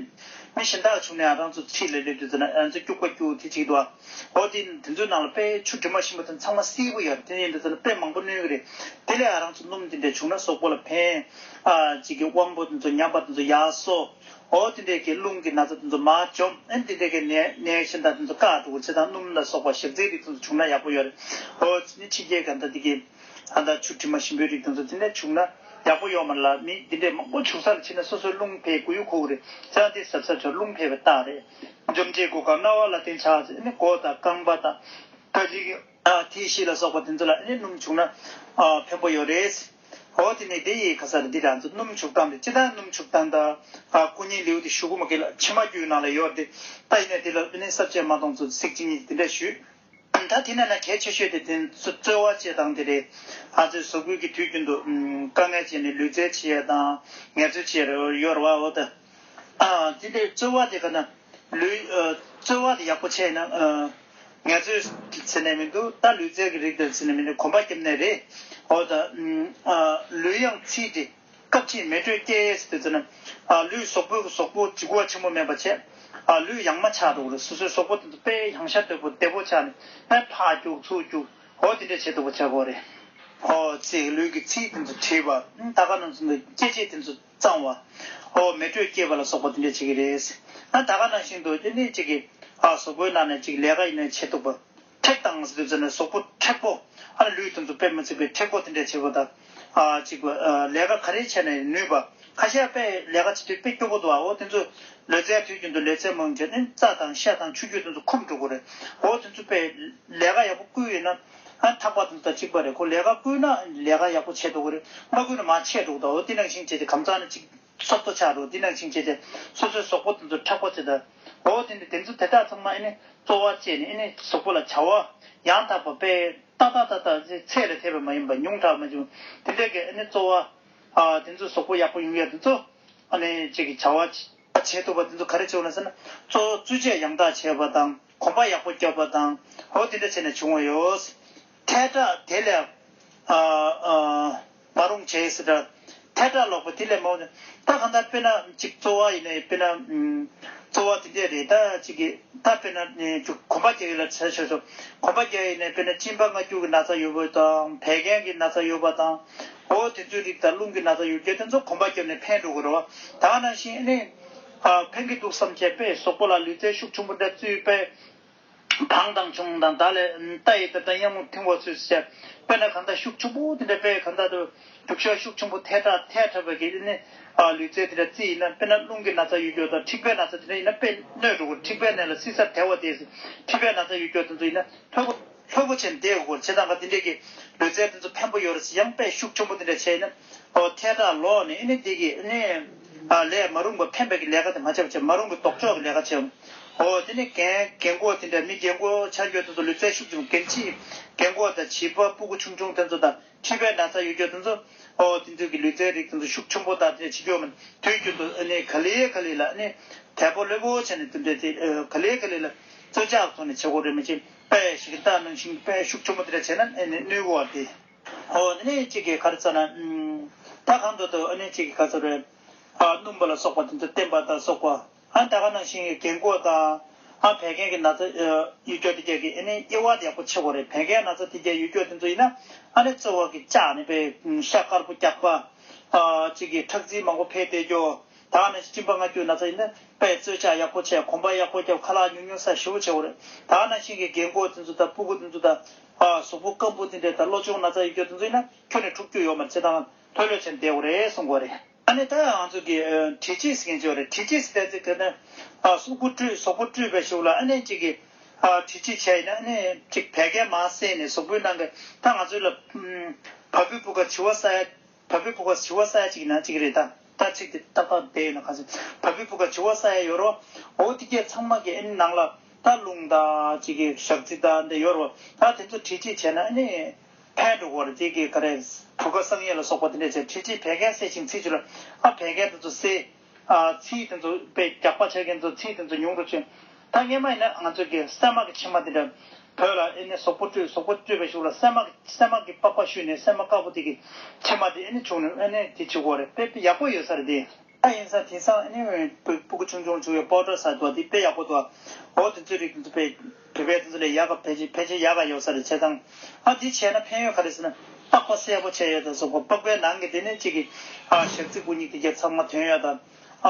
མི་གཞན་དག་བྱུང་ནའང་རང་ཚོ་ཁྲིད་ལ་སླེབས་དུས་ཟེར་ན་ཨ་ཚོས་སྐྱུག་པ་སྐྱུག་དེ་བྱེད་ཀྱི་འདུག་ཨ་བ་དེ་དེ་ཚོའི་ནང་ལ་པས་ཆུ་དྲི་མ་ཞིམ་པོ་དང་ཚང་མ་སིལ་བོ་ཡོད་རེད་དེ་ཡིན་དུ་ཟེར་ན་པས་མང་པོ་བསྣུན་གི་རེད་དེ་ལས་ཨ་རང་ཚོ་སྣུམ་དེ་འདྲས་བྱུང་ན་ཟོག་པོ་ལ་ཕན། ཨ་ཅིག་གི་དབང་པོ་དེ་ཚོ་ཉམས་པ་དེ་ཚོ་ཡག་སོ། ཨོ་དེ་འདྲའི་གྱི་རླུང་གི་ན་ཚ་དེ་ཚོ་མ་འཇོམས་ཨེ་དེ་འདྲའི་གི་ནད་ནད་ཆེན་དག་དེ་ཚོ་བཀག་འགྲོ་གོ་ཚེ་དང་སྣུམ་ལ་སོགས་པ་ཞག་རྩའི་རིགས་དེ་ཚོ་བྱུགས་ན་ཡག་པོ་ཡོད་རེད་ཨོ་དེ་ནས་ཕྱི་རྒྱལ་ག་འདྲ་དེ་གི་ཨ་འདྲ་ཆུ་དྲི་མ་ཞིམ་པོའི་རིགས་དེ་ཚོ་དེ་ནས་བྱུགས་ན་ཡག་པོ་ཡོད་མ་ལ་མི་དེ་འདྲའི་མང་པོ་བྱུགས་ས་ལ་ཕྱིན་ན་སོ་སོའི་རླུང་འཕེལ་དགོས་ཡོད་ཁོ་གོ་རེད་ཚེ་དང་དེ་ཟབ་ཟབ་བྱུགས་ན་རླུང་འཕེལ་བའི་རྟགས་རེད། འཇོམས་བྱེད་སྒོ་ཁ་རྣ་བ་ལ་བརྟེན་ཆགས་ཚེ་ནི་སྒོ་དང་རྐང་པ་དང་ཀ་ཅིག་གི། ཐིག་ཤིས་ལ་སོགས་པ་དེ་ཚོ་ལ་ཨེ་ནི་སྣུམ་བྱུགས་ན། ཕན་པོ་ཡོད་རེད། ཨོ་དེ་ནས་དེ་ཡི་ག་ས་རེད་འདི་རང་ཚོ་སྣུམ་བྱུགས་སྟངས་དེ་ཅི་ལྟར་སྣུམ་བྱུགས་སྟངས་དང། སྐུ་བརྙན་ལེའུ་དེ་ཞུ་གུ་མ་གི་ལ་ཕྱི་མ་རྒྱུའི་ནང་ལ་ཡོད་རེད་ད་ཡིན་ན་དེ་ལ་ཨེ་ནི་གསར་བཅད་མ་གཏོང་ཚོ་ཚིག་ཅི་ཉིད་དེ་འདྲ་ཞུས། ད་དེ་ན་ན་གལ་ཆེ་ཤོས་དེ་དེ་ཚོ་རྩོལ་བ་བཅད་སྟངས་དེ་རེད། ང་ཚོས་བཟོ་བསྐུལ་གི་དུས་རྒྱུན་དུ། དཀའ་ངལ་བྱས་ནས་ལུས་རྩལ་བྱེད་ཡས་དང་ངལ་རྩོལ་བྱེད་ཡས་རེད་ཡོད་རེད་བ་འོ་ད། དེ་འདྲའི་རྩོལ་བ་དེ་ག་ན། ལུས། རྩོལ་བ་དེ་ཡག་པོ་བྱས་ན། ངལ་རྩོལ་གྱི་ཚེ་ནད་མི་འདུག་ད་ལུས་རྩལ་གྱི་རིགས་དེར་ཚེ་ནད་མི་འདུག་གོམ་པ་སྐྱེམས་ནད་རེད། འོ་ད། ལུས་ཡང་ཚིལ་ཏེ། སྐབས་ཕྱིས་མེ་དྲོད་སྐྱེ། ཡས་དེ་ཚེ་ན། ལུས་སོག་པོའི་གི་སོག་པོ་གྱི་ཁུ་བ་ཆེན་པོ་མེད་པ་བྱས། ལུས་ཡང་མ་ཆགས་འདུག་རེད་སོ་སོའི་སོག་པོ་དེ་ཚོ་དཔེ་ཡང་ཤ་དོད་པོ་བདེ་པོ་ཆགས་ནས་ཕ་ཕག་རྒྱུག་ཚུགས་རྒྱུག་འོ་དེ་འདྲ་བྱས་འདུག་པ་ཆགས་གོ་རེད། འོ་ཚིལ་ལུས་ཀྱི་ཚིལ་དེ་ཚོ་བྲིས་པ། ད་ག་ནང་ཚུན་དུ་སྐྱེ་མཆེད་དེ་ཚོ། གཙང་བ། ཨོ། མེ་དྲོད་སྐྱེད་པ་ལ་སོགས་པ་དེ་འདྲས་བྱེད་ཀྱི་རེད། ཨ་ད་ག་ནང་བཞིན་དུ་ཨེ་ནས་ཅིག་གི། ཨ་ཟོག་པོའི་ནང་ནས་ཅིག་ལས་ཀ་ཨེ་ནས་བྱེད་འདུག་པ། མཁྲེགས་དང་ཟེར་དུས་ཚོད་ནས་ཟོག་པོ་མཁྲེགས་པོ། ཨ་ལ་ལུས་དེ་ཚོ་དཔེ་མི་ཚིག་པའི་མཁྲེགས་པོ་དེ་འདྲས་བྱེད་པ་ད། ཨ་ཅིག་པ། ལས་ཀ་ག་རེ་བྱས་ནས་ནུས་པ། ཁ་ཤས་པས་ལས་ཀ་བྱེད་དུས་དཔེ་སྐྱོ་པོ་འདུག་ཨ་ཨོ་དེ་ཚོ། ལུས་རྩལ་དུས་རྒྱུན་དུ་ལས་རྩལ་མང་བྱས་ནས་རྩ་དང་ཤ་དང་ཆུ་རྒྱུས་དེ་ཚོ་ཁུམ་འགྲོ་དགོས་རེད། ཨོ་དེ་ཚོ་པས་ལས་ཀ་ཡག་པོ་བསྐུལ་ཡོད་ན། ཨ་ཐག་པ་དང་ད་གཅིག་པ་རེད་ཁོ་ལས་ཀ་བསྐུལ་ན་ལས་ཀ་ཡག་པོ་བྱེད་འགྲོ་གི་རེད་མ་བསྐུལ་ན་མ་བྱས་འགྲོ་གི་དང་འོ་དེ་ནང་བཞིན་བྱས་ཏེ་གམ་ཚང་ན་ཅིག་སོབ་ཏོ་ཆགས་འགྲོ་དེ་ནང་བཞིན་བྱས་ཏེ་སོ་སོའི་ཟོག་པོ་དང་ཚོ་ཁྲག་པོ་བྱས་ད་འོ་དེ་ནས་དེ་ཚོ་དེ་དག་ཚང་མ་ཨེ་ནི་བཙོ་བ་བཅས་ནས་ཨེ་ནི་ཟོག་པོ་ལ་བྱ་བ་ཡང་དག་པ་པས་ཏག་ཏག་ཏག་ཏག་ཅིག་ཚད་ལས་ཐེ་བའི་མ་ཡིན་པ་ཉུང་དྲག་མ་བྱུང་དེ་འདྲས་ཀྱི་ཨེ་ནི་བཙོ་བ་དེ་ཚོ་ཟོག་པོ་ཡག་པོ་ཡོང་ཡ་དེ་ཚོ་ཨེ་ནི་བཅས་ཀྱི་བྱ་བ་བྱས་ཐུབ་པ་དེ་ཚོ་ག་རེ་བྱས་འོང་ན་ཟེར་ན་བཙོ་བ་བཙོས་བཅས་ཡང་དག་བྱས་པ་དང། གོམ་པ་ཡག་པོ་རྒྱོབ་པ་དང་འོ་དེ་འདྲ་བྱས་ནས་བྱུང་བ་ཡོད། ཐལ་དྲག་དེ་ལས། མ་རུང་བྱས་ཟེར་དྲག། ཐལ་དྲག་ལོག་པ་དེ་ལས་མ་རུང། ད་གང་ལྟར་དཔེར་ན་གཅིག་གཙོ་བ་ཡིན་ན་དཔེར་ན། གཙོ་བ་དེ་འདྲས་རེད་ད་གཅིག་གི་ད་དཔེར་ན་གོམ་པ་རྒྱག་ཡུལ་ལ་ཆས་སོ། གོམ་པ་རྒྱག་ཡུལ་ནས་དཔེར་ན་གཅིན་པ་སྔ་འགྱུར་གྱི་ན་ཚ་ཡོད་པོ་དང་བད་ཀན་གྱི་ན་ཚ་ཡོད་པ་དང། འོ་དེ་ཚོའི་རིགས་དང་རླུང་གི་ན་ཚ་ཡོད་རྒྱུ་དེ་ཚོ་གོམ་པ་རྒྱབ་ནས་ཕན་འགྲོ་དགོས་རོ། ད་ནང་བཞིན་ཨ་ནི། ཕན་གྱི་འདུག་བསམ་བྱས་པས་ཟོག་པོ་ལ་ལུས་རྩལ་ཤུགས་ཆུང་པོ་འདྲ་བཙུད་པས། གང་དང་བྱུང་དང་བདག་ལས་རྟ་ཡི་དེ་དག་གཡང་མོ་མཐིང་བ་ཚུལ་བཞིན་བྱས། དཔེར་ན་གང་དག་ཤུགས་ཆུང་པོ་དེ་འདྲ་དཔེ་གང་དག་ཏུ། རྒྱུག་ཤ་ཤུགས་ཆུང་པོ་ཐལ་ཁྲག་ཐལ་ཁྲག་བད་ཀན་ནི། ལུས་རྩལ་དེ་འདྲ་རྩི་ཡིན་ན་དཔེར་ན་རླུང་གི་ན་ཚ་ཡུལ་འགྱོགས་དང་འཁྲིག་པའི་ན་ཚ་དེ་འདྲ་ཡིན་ན་དཔེ་སྣོད་དྲུག་གོ་འཁྲིག་པའི་ནད་ལ་བསིལ་སར་དལ་བ་དེ། མཁྲིས་པའི་ན་ཚ་ཡུལ་འགྱོགས་དེ་ཚོ་ཡིན་ན་ཕོ། ལྷོད་པོ་ཆེ་འདེད་དགོས་ཆེ་ད་ག་འདི་འདྲས་ཀྱི་ལུས་རྩལ་འདི་ཚོ་ཕན་པོ་ཡོད་རེད་ཟེར་ཡང་པས་ཤུགས་ཆེན་པོ་འདི་འདྲས་བྱས་ནས་ཨོ་ཐེ་དྲག་ལོག་ནས་ཨེ་ནི་འདི་གི་ཨེ་ནི། ལས་མ་རུང་པ་ཕན་པའི་གི་ལས་ཀ་དེ་མ་བྱས་པ་བྱས་མ་རུང་གི་དོགས་འཇོག་གི་ལས་ཀ་བྱས། ཨོ་དེ་ནི་རྒན་རྒན་འཁོག་དེ་འདྲས་མི་རྒན་འཁོག་ཆ་འགྱོད་དེ་ཚོ་ལུས་རྩལ་ཤུགས་ཆེན་པོ་རྒན་ཕྱི་རྒན་འཁོག་དང་བྱིས་པ་སྤུ་གུ་ཆུང་ཆུང་དེ་ཚོ་དང་མཁྲིས་པའི་ན་ཚ་ཡོད་འགྱོད་དེ་ཚོ་ཨོ་དེ་ཚོའི་གི་ལུས་རྩལ་རིགས་དེ་ཚོ་ཤུགས་ཆེན་པོ་དང་འདི་འདྲས་བྱེད་འགྱོད་མ་དུས་རྒྱུན་དུ་ཨེ་ནི་ག་ལི་ག་ལི་ལ་ཨེ་ནི་དལ་པོ་ལྷོད་པོ་ཆེ་ནས་འདི་འདྲས་དེ་ག་ལི་ག་ལི་ལ་རྩོལ་བཅག་ཐོག་ནས་བྱེད་དགོས་རེད་མ་གཅིག། དཔེ་ཞིག་གིས་བལྟ་ན་ཤིང་དཔེ་ཤུགས་ཆེན་པོ་དེ་འདྲ་བྱས་ན་ཨེ་ནི་ནུས་གོ་བ་སྟེ། ཧོ་ཨ་ནི་གཅིག་གིས་གར་བཙལ་ན། ད་གང་འདོད་དུ་ཨ་ནི་གཅིག་གིས་གར་བཙལ་བས། སྣུམ་པ་ལ་སོགས་པ་དེ་ཚོ་བསྟན་པ་དང་སོགས་པ། ད་གང་ན་ཤིང་གི་གན་གོས་དང། བད་ཀན་གྱི་ན་ཚ་ཡུལ་སྐྱོགས་དེ་རྒྱག་གི་ཨེ་ནི་དབྱེ་བ་ཡག་པོ་ཆེ་གོ་རེད་བད་ཀན་ན་ཚ་དེ་རྒྱག་ཡུལ་སྐྱོགས་དེ་ཚོ་ཡིན་ན། ཨ་ནི་རྩོལ་བ་གིས་བཅག་ནས་པའི་ཤ་དཀར་པོ་རྒྱག་པ། གཅིག་གིས་ཁྲག་རྩིས་མང་པོ་འཕེལ་ཏེ་རྒྱོ། ད་ནི་སྤྲིན་པ་ལྔ་རྒྱུ་ན་ཚ་ཡིན། པས་རྩོལ་བྱ་ཡག་པོ་བྱས་གོམ་པ་ཡག་པོ་རྒྱབ་ཁ་ལག་ཉུག་ཉུག་ས་ཞིབ་བོ་བྱས་བོར། ད་ནི་ཤིང་གི་རྒན་མགོ་དེ་ཚོ་དང་སྤུ་གུ་དེ་ཚོ་དང། གཟུགས་པོ་སྐམ་པོ་དེ་འདྲས་དང་བློ་ཅུང་ན་ཚ་ཡི་གྱོ་དེ་ཚོ་ཡིན་ན་ཁྱོད་ནི་ཕྲུག་སྐྱུག་ཡོད་མ་རེད་ཅེས་དང་ཐོས་ལོས་བྱས་ནས་བསྡད་བོ་རེད་གསུངས་གོ་རེད། ད་ནི་ད་ང་ཚོ་གིས་དྲི་ཆིས་མཁན་བྱས་བོ་རེད་དྲི་ཆིས་བསྟན་ཚེ་དེ་ནི། སྲུབ་གུ་བཀྲུས་ཟོག་པོ་བཀྲུས་པས་ཞིབ་བོ་ལ་ཨ་ནེ་ཅིག་གིས། དྲི་ཆིས་བྱས་ཡིན་ན་ཨ་ནེ་ཅིག་བད་ཀན་མ་བསྲེས་ནས་ཟོག་པོའི་ནང་གི་ད་ང་ཚོའི་ལ། བ་སྤུའི་སྤུ་ཁ་བྱི་བ་ས་ཡ། བ་པི་བུ་ག་བྱི་བ་ས་ཡ་གཅིག་ཡིན་ན་གཅིག་རེད་ད་ད་ཁྲིག་དེ་ཏག་ཏག་བསྡད་ཡོད་ན་ག་ཚོད་བ་པི་བུ་ག་བྱི་བ་ས་ཡ་ཡོད་རོགས་འོ་དེ་གས་ཚང་མ་གས་ཨེ་ནི་ནང་ལ་ད་རླུང་ད་ཅི་གས་ཞག་རྩི་ད་འདི་ཡོད་རོགས་ད་དེ་ཚོ་ཁྲིད་ཁྲིད་བྱས་ན་ཨེ་ནི་ཕན་འགྲོ་གོ་རེད་དེ་གས་ག་རེད་བུ་ག་བསང་ཡས་ལ་སོགས་པ་དེ་འདྲས་བྱས་ཁྲིད་ཁྲིད་བད་གས་བསད་ཅིང་ཚིག་ཆུ་ལ་ཨ་བད་གས་ད་ཚོ་བསད། ཚིག་དེ་ཚོ་དཔེ་རྒྱག་པ་བྱེད་མཁན་ཚོ་ཚིག་དེ་ཚོ་ཉུང་རུ་ཕྱིན། ད་སྔས་མ་ཡིན་ན་ང་ཚོ་གི་སད་མག་གི་ཕྱི་མ་དེ་འདྲ་བོད་ལ་ཨེ་ནི་ཟོག་པོ་སྤྲོད་ཟོག་པོ་སྤྲོད་པའི་ཞུགས་ལ་སད་མག་སད་མག་གི་པགས་པ་བཤུས་ནས་སད་མ་དཀར་པོ་དེ་གི་ཕྱི་མ་དེ་ཨེ་ནི་བྱུག་ནས་ཨེ་ནི་དེ་བྱེད་དགོས་རེད་དཔེ་ཡག་པོ་ཡོད་ས་རེད་དེ། ད་ཡིན་ས་དེང་སང་ཨེ་ནི་བོད་པུ་གུ་ཆུང་ཆུང་བྱུག་ཡོད་པོ་འདྲ་ས་དེ་དཔེ་ཡག་པོ་འདུག་ཨོ་དེ་ཚོའི་རིགས་དེ་ཚོ་དཔེ། གྲུ་པའི་དེ་ཚོ་ལས་ཡག་ག་ཕལ་ཆེར་ཕལ་ཆེར་ཡག་ག་ཡོད་ས་རེད་བྱེད་སྟངས་ཨ་འདི་བྱས་ན་ཕན་ཡོད་ག་རེད་ཟེར་ན་སྟག་པ་གསལ་པོ་བྱས་ཡོད་དང་གཟུགས་པ་ལྤགས་པའི་ནང་གི་དེ་ནས་གཅིག་གི་ཨ་ཞག་ཙིག་པུ་གཉིས་ཀྱི་རྒྱབ་ཚགས་མ་དོན་ཡོད་དང་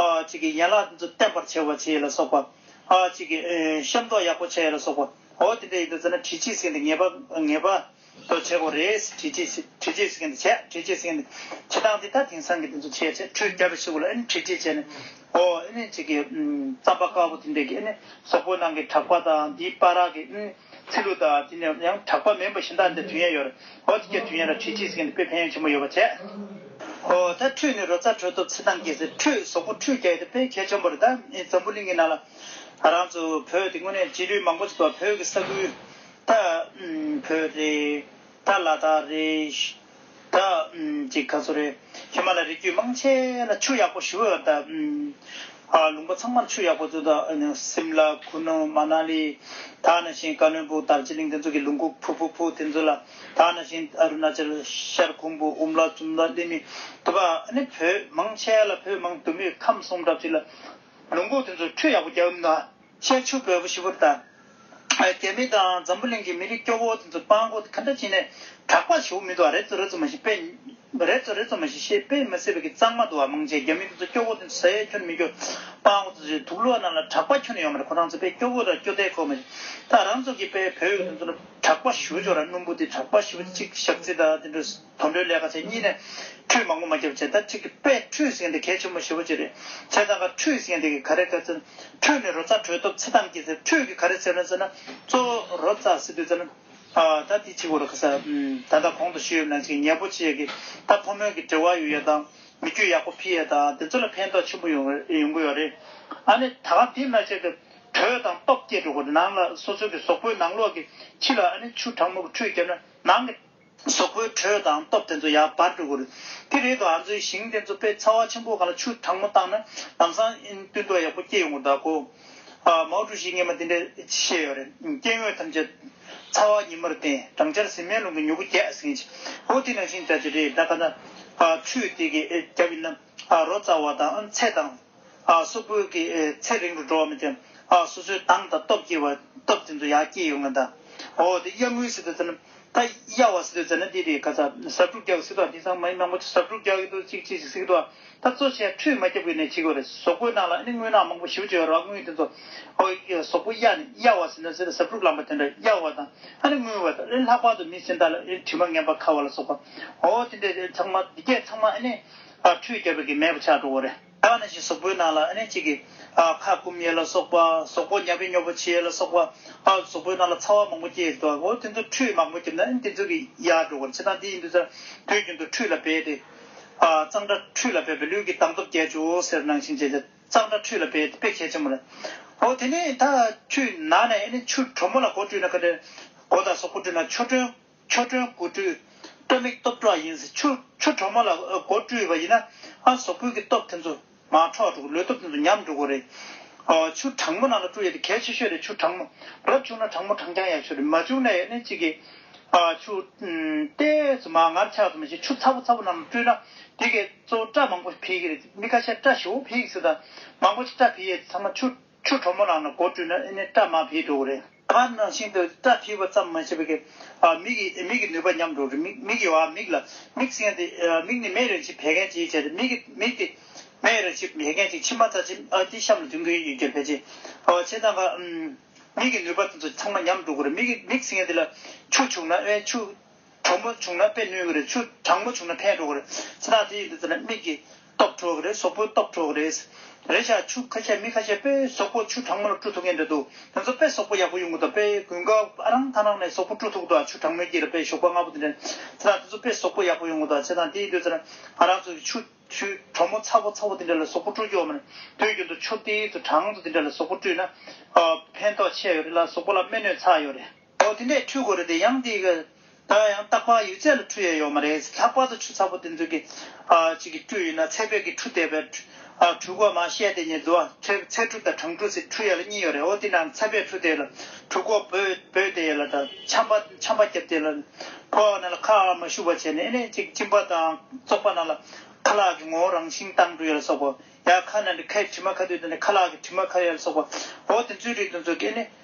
ཨ་གཅིག་གི་ཡན་ལག་དེ་ཚོ་བརྟན་པར་བྱས་བ་བྱས་ཡོད་ལ་སོགས་པ་ཨ་གཅིག་གི་ཤམ་ཐོག་ཡག་པོ་བྱས་ཡོད་ལ་སོགས་པ་འོ་དེ་འདྲ་ཡིན་དུ་ཟེར་ན་དྲི་ཆིས་ཟིན་དེ་ངེས་པ་ངེས་པ། ཚོ་བྱེད་དགོས་རེད། བྲིས་རྗེས་བྲིས་རྗེས་ཟེར་མཁན་དེ་བྱས་བྲིས་རྗེས་ཟེར་མཁན་དེ་བྱེད་སྟངས་འདི་ད་དེང་སང་གི་དེ་ཚོ་བྱས་བྱས་ཁྲུས་བསྐྱར་བྱེད་དགོས་ལ་ཨེ་ནི་བྲིས་རྗེས་བྱས་ནས་ཨོ་ཨེ་ནི་གཅིག་གི་རྩམ་པ་དཀར་པོ་དེ་འདྲས་ཀྱིས་ཨེ་ནི་སོག་པོའི་ནང་གི་གྲགས་པ་དང་འདིའི་པ་རག་གི་ཚི་ལུ་དང་དེ་ནས་ཡང་གྲགས་པ་མེན་པོ་གཞན་དག་འདི་དུས་ཡན་ཡོད་རེད་ཨོ་དེ་སྐད་དུས་ཡན་ར་བྲིས་རྗེས་ཟེར་མཁན་དེ་དཔེ་ཕན་ཡོན་ཆེན་པོ་ཡོད་པ་བྱས། ཨོ་ད་ཁྲུས་ནི་རོ་ཚ་དྲོད་ཐོབ་ཚི་དང་གིས་ཟེར་ཁྲུས་སོག་པོ་ཁྲུས་རྒྱག་ཡོད་ད་དཔེ་གལ་ཆེན་པོ་རེད་ད་ཨིན་འཛམ་བུ་གླིང་གི་ནང་ལ་རང་ཚོ་བོད་དེ་དངོས་གནས་རྗེས་ལུས་མང་པོ་ཞིག་ཏུ་བ་བོད་ཀྱི་ས་ཁུལ། ད་བོད་རེད། ད་ལ་དྭགས་རེད། ད་ཅིག་ག་ཚོད་རེད། ཧི་མ་ལ་རི་རྒྱུད་མང་ཆེ་ལ་ཆུ་ཡག་པོ་ཞུ་ཨེ་ད། ལུང་པ་ཚང་མར་ཆུ་ཡག་པོ་བཙུགས་ད་སིམ་ལ་ཁུ་ནུ་མ་ན་ལི། ད་ནང་བཞིན་ཀ་ལོན་པུ་དར་ཅི་ལིང་དེ་ཚོ་གི་ལུང་ཁུག་ཕུ་ཕུ་ཕུ་དེ་ཚོ་ལ། ད་ནང་བཞིན་ཨ་རུ་ན་ཅལ་ཤར་ཁུང་པུ་འུམ་ལ་ཙུམ་ལ་ལི་མི་དུ་བ་ནི་བོད་མང་ཆེ་ལ་བོད་མང་དུ་མི་ཁམས་སོང་གྲབས་ཅིག་ལ། ལུང་ཁུག་དེ་ཚོ་ཆུ་ཡག་པོ་རྒྱག་ཨེ་ད། ཤེལ་ཆུ་བོད་པོ་ཞི་བུར་དར། རྒྱ་མི་དང་འཛམ་བུ་གླིང་གི་མི་རིགས་སྐྱོ་བོ་དེ་ཚོ་སྤང་གོ་ག་འདྲ་བྱས་ནས་གྲགས་པ་བྱེད་འོ་མི་འདུག་ཨ་རེ་ཙོ་རེ་ཙོ་མ་ཞིག་དཔེ་རེ་ཙོ་རེ་ཙོ་མ་ཞིག་ཤེས་དཔེ་མི་སེ་བའི་གི་གཙང་མ་འདུག་ཨ་མང་ཆེ་རྒྱ་མི་དེ་ཚོ་སྐྱོ་བོ་དེ་ཚོ་ཟ་ཡ་ཁྱོད་མི་སྐྱོ་སྤང་གོ་ཙོ་ཞིག་དུག་ལོ་རྣམས་ལ་གྲགས་པ་ཁྱོད་ཡོང་མ་རེད་ཁོ་རང་ཚོ་དཔེ་སྐྱོ་བོ་ར་སྐྱོ་དད་ཁོ་མ་རེད་ད་རང་ཚོ་གི་དཔེ་བོད་ཡིག་དེ་ཚོ་གྲགས་པ་ཞུ་ཆོག་ར་སྣུམ་བུ་དེ་གྲགས་པ་ཞི་བུ་དེ་གཅིག་ཞག་ཚིལ་དང་དེ་འདྲ་དོན་འགྲེལ་ལས་ཁ་ཚེ་གཉིས་ནས། ཁྲུས་མང་པོ་མ་ཁྱབ་བྱས་ད་ཅིག་གི་པས་ཁྲུས་ཟིན་ཏེ་གལ་ཆེན་མོ་བཞི་བོ་ཅི་རེད། ཚེ་ཚང་ཁ་ཁྲུས་ཟིན་ཏེ་གི་ག་རེ་དཀའ་ཚེ། ཁྲུས་ནི་རོ་ཙག་དྲོད་སྟོབས་ཚེ་ཐམས་ཀྱིས་ཚེ་ཁྲུས་གི་ག་རེ་ཚེ་ལོན་ཚེ་ན་གཙོ་བོ་རོ་ཙག་སེ་དུས་ཚེ་ལོན། ད་དེ་གཅིག་བོ་རེད་ག་ས། ད་ལྟ་གོང་དུ་ཤེས་ཡོད་ན་ཅིག་ཉེ་པོ་ཆེ་གི་ད་ཕོ་མོའི་གི་དྲི་བ་ཡོད་ཡ་དང་མི་རྒྱུད་ཡག་པོ་ཕི་ཡ་དང་དེ་ཚོ་ལ་ཕན་ཐོག་ཆེན་པོ་ཡོང་ཡོང་གི་ཡོད་རེད། ཨ་ནི་ད་གང་དེ་ན་ཅིག་གི་དྲོད་དང་སྟོབས་སྐྱེད་འགྲོ་གི་རེད་ནང་ལ་སོ་སོའི་གི་ཟོག་པོའི་ནང་ལོག་གི་ཁྱི་ལ་ཨ་ནི་ཆུ་གྲང་མོ་གི་ཁྲུས་བརྒྱབ་ན་ནང་གི། སོག་པོའི་གྲོས་དང་སྟོབས་དེ་ཚོ་ཡར་འབར་འགྲོ་གི་རེད། དེ་རེད་དུ་ང་ཚོའི་ཞིང་དེ་ཚོ་དཔེ་ཚ་བ་ཆེན་པོ་ག་ལ་ཆུ་གྲང་མོ་བཏང་ན་དྭངས་སང་སྟོན་ཐོག་ཡག་པོ་སྐྱེ་ཡོང་གི་གདའ་གོ། མའོ་ཀྲུའུ་ཞིས་སྔན་མ་དེ་འདྲས་བཤད་ཡོད་རེད། སྐྱེ་དངོས་ཐམས་ཅད་ཚ་བ་ཉི་མར་བརྟེན་སྦྲང་ཆར་ཟིལ་མའི་རླུང་གིས་མྱུ་གུ་རྒྱས་ཟིན། འོ་དེ་ནང་བཞིན་འདྲ་ཅི་རེད་གདའ་ག་ན། ཆུ་དེ་གས་རྒྱབ་ཡིན་ན། རོ་རྩ་བ་དང་ཚད་དང། སོ་སྤུས་ཀྱི་ཚད་རིང་དུ་འགྲོ་བ་མི་བསྟེན། སོ་སོའི་དྭངས་དང་སྟོབས་སྐྱེ་བ། སྟོབས་དེ་ཚོ་ཡང་སྐྱེ་ཡོང་ངེས་དང། འོ་དེ་གཡག་མོའི་སི་ཏུ་ཚ་ན། ད་གཡག་བ་སི་ཏུ་ཚ་ན་དེ་དེ་ག་ཚ། ཟབ་དྲུག་རྒྱག་གི་སི་ཏུ་བ་དེ་ཚང་མ་ཡིན་ནག་པོ་ཆེ་ཟབ་དྲུག་རྒྱག་གི་ཏུ་གཅིག་གཅིག་ཅིག་སི་ཏུ་བ། ད་གཙོ་ཆེ་ཁྲུས་མ་རྒྱབ་གི་ནས་བྱེད་དགོས་རེད་ཟོག་པོའི་ནང་ལ་ཨ་ནི་དངུལ་ནག་མང་པོ་ཞིབ་བཅོས་ཡོད་རེད་བ་དངུལ་དེ་ཚོ། ཟོག་པོ་གཡག་ནི་གཡག་བ་སི་ན་ཟེར་ཟབ་དྲུག་ལམ་པ་དེ་འདྲ་གཡག་བ་དང་ཨ་ནི་དངུལ་བ་ད་རེ་ལྷག་པར་དུ་མི་སེམས་དག་ལ་རེ་དྲི་མ་ངན་པ་ཁ་བ་ལ་སོགས་པ། འོ་དེ་འདྲ་ཚང་མ་དེ་སྐད་ཚང་མ་ཨ་ནི། པར་ཁྲུས་བརྒྱབ་པའི་གི་མེད་པ་ཆགས་འགྲོ་བ་རེད། ད་ནི་ཅིག་ཟོག་པོའི་ནང་ལ་ཨ་ནེ་ཅིག་གི། ཁ་བསྐུམ་ཡས་ལ་སོགས་པ་ཟོག་པོ་ཉབ་ཡས་ཉོབ་པོ་བྱེད་ཡས་ལ་སོགས་པ། ཟོག་པོའི་ནང་ལ་ཚ་བ་མང་པོ་སྐྱེས་འདུག་ཨོ་དེ་ཚོ་ཁྲུས་མང་པོ་བརྒྱབ་ན་ཨ་ནི་དེ་ཚོའི་གི་ཡལ་འགྲོ་བར་བྱེད་ད་འདི་ཡིན་དུས་ཚོད་དུས་རྒྱུན་དུ་ཁྲུས་ལ་འབད་དེ། གཙང་སྦྲ་ཁྲུས་ལ་འབད་པས་ལུས་ཀྱི་དྭངས་སྟོབས་རྒྱས་ཆོག་ཟེར་ནང་བཞིན་བྱས་ཚེ་གཙང་སྦྲ་ཁྲུས་ལ་འབད་དེ་དཔེ་གལ་ཆེན་པོ་རེད། ཨོ་དེ་ནས་ད་ཁྲུས་ནང་ནས་ཨ་ནི་ཆུ་གྲོ་མོ་ལ་སྒོ་བཀྲུས་ན་ཁ་བྲལ། སྒོ་དང་ཟོག་པོ་བཀྲུས་ན་ཆུ་གྲོན། ཆོ་འཕྲུལ་སྒོ་སྤྲུལ། སྟོད་མིག་སྟོབས་བྲོ་བ་ཡིན་ཟེར་ཆུ་ཆུ་གྲོག་མ་ལ་སྒོ་སྤྲུལ་བ་ཡིན་ན་ཨ་ཟོག་ཕུད་ཀྱི་སྟོབས་དེ་ཚོ་མ་འཕྲོག་འགྲོ་གི་ལུས་སྟོབས་དེ་ཚོ་ཉམས་འགྲོ་གི་རེད། ཆུ་གྲང་མོ་ནང་ལ་སྤྲུལ་ཡོད་དེ་གལ་ཆེ་ཤོས་རེད་ཆུ་གྲང་མོ་རབ་བྱུང་ན་གྲང་མོ་གྲང་རྐྱང་ཡག་ཤོས་རེད་མ་བྱུང་ན་ཡང་ནི་གཅིག་གི། ཆུ་ཏེ་ཚོ་མ་ངར་ཆགས་ཚོ་མ་བྱེད་ཆུ་ཚ་བོ་ཚ་བོ་ནང་ལ་སྤྲུལ་ན་དེ་གས་གཙོ་བོ་སྐྲ་མང་པོ་ཕིག་གི་རེད་མི་ཁ་ཤས་སྐྲ་ཞེ་བོ་ཕིག་ཟེར་དང་མང་པོ་ཞིག་སྐྲ་ཕིག་ཡས་ཚང་མ་ཆུ། ཆུ་དྲོ་མོ་ལ་ནི་སྒོར་བྲུས་ན་ཨེ་ནི་སྐྲ་མ་འཕེལ་འགྲོ་གི་རེད། ཁ་ནང་བཞིན་དུ་སྐྲ་འཕེལ་བ་ཙམ་མ་བྱས་པར་མིག་གིས་མིག་གི་ནུས་པ་ཉམས་འགྲོ་གི་རེད། མིག་གིས་མིག་ལ་མིག་སྲན་ཏེ་མིག་ནི་མེད་རེད་ཅེས་བད་ཀན་གཅིག་བྱས་ཏེ་མིག་གིས་མིག་དེ་མེད་རེད་ཅེས་བད་ཀན་གཅིག་མཆིལ་མ་ཚ་ཆེན་དེ་གཤམ་ལ་འདུས་གིན་ཡོད་རྒྱུར་བད་ཆེན་བྱས་ཙང་ཁ་མིག་གི་ནུས་པ་དེ་ཚོ་ཚང་མ་ཉམས་འགྲོ་གི་རེད་མིག་གིས་མིག་སྲན་དེ་ལ་ཆུ་བྱུགས་ན་ཆུ། གྲོག་མ་བྱུང་ན་དཔེ་ནོན་གི་རེད་ཆུ་གྲང་མོ་བྱུང་ན་ཕན་འགྲོ་གི་རེད་ཚེ་ཐག་དེ་ཡིན་དུས་ཚེ་ན་མིག་གི་སྟོབས་འཕྲོ་གི་རེད་སོག་པོའི་སྟོབས་འཕྲོ་གི་རེད། རེད་ཤག་ཆུ་ཁ་ཤས་མི་ཁ་ཤས་དཔེ་སོག་པོ་ཆུ་གྲང་མོ་ལ་བཀྲུ་ཐུབ་མཁན་རེད་འདུག་དེ་ཚོ་དཔེ་སོག་པོ་ཡག་པོ་ཡོང་གི་འདུག་དཔེ་དགུན་དགའ་ཨ་རང་ཐང་རང་ནས་སོག་པོ་བཀྲུ་ཐུབ་གི་འདུག་ཨ་ཆུ་གྲང་མོའི་དཀྱིལ་ལ་དཔེ་ཞོགས་པ་ལྔ་པོ་དེ་འདྲེན་ཚེ་ཐག་དེ་ཚོ་དཔེ་སོག་པོ་ཡག་པོ་ཡོང་གི་འདུག་ཚེ་ཐང་དེ་ཡིན་དུས་ཚེ་ན་ང་རང་ཚོ་ཆུ་ཆུ་གྲོག་མོ་ཚ་བོ་ཚ་བོ་དེ་འདྲ་ལ་སོག་པོ་བཀྲུ་རྒྱུ་འོ་མ་རེད་དུས་རྒྱུན་དུ་ཆུ་དེ་ཚོ་གྲང་དུ་དེ་འདྲ་ལ་སོག་པོ་བཀྲུས་ན་ཕན་ཐོག་ཆེ་ཡོད་རེད་ལ་སོག་པོ་ལ་སྨན་ནུས་ཚ་ཡོད་རེད། ཨོ་དེ་འདྲའི་འཕྲུལ་དགོས་རེད་དེ་ཡང་དེ་གི། ད་ཡང་སྟག་ལྤགས་ཡོད་ཚད་ལ་འཕྲུལ་ཡ་ཡོད་མ་རེད་ལྷག་པར་དུ་ཆུ་ཚ་པོ་དེ་ཚོ་གི། ཅིག་གི་སྤྲུལ་ཡོད་ན་ཚད་བེད་ཀི་འཕྲུལ་དེ་བས། འཕྲུལ་དགོས་མ་བཤད་དེ་ནི་དུ་བ་ཚད་འཕྲུལ་དང་གྲང་འཕྲུལ་ཚིག་འཕྲུལ་ཡ་ལ་གཉིས་ཡོད་རེད་ཨོ་དེ་འདྲའང་ཚད་བེད་འཕྲུལ་དེ་ལ་འཕྲུལ་དགོས་བོད་དེ་ཡ་ལ་དང་ཆམ་པ་ཆམ་པ་རྒྱབ་དེ་ལ། ཕོ་བ་ན་ལ་ཁ་ཨ་མ་ཤུ་བ་བྱས་ནས་ཨེ་ནས་ཅིག་གཅིན་པ་དང་བཙོག་པ་ན་ལ། ཁ་ལག་གི་ངོ་བོ་རང་བཞིན་དང་འདྲུ་ཡ་ལ་སོགས་པ། ཡ་ཁ་ན་འདྲི་ཁའི་དྲི་མ་ཁ་དུས་དེ་འདྲ་ཁ་ལག་གི་དྲི་མ་ཁ་ཡ་ལ་སོགས་པ། ཨོ་དེ་ཚོའི་རིགས་དེ་ཚོ་གི་ཨེ་ནས།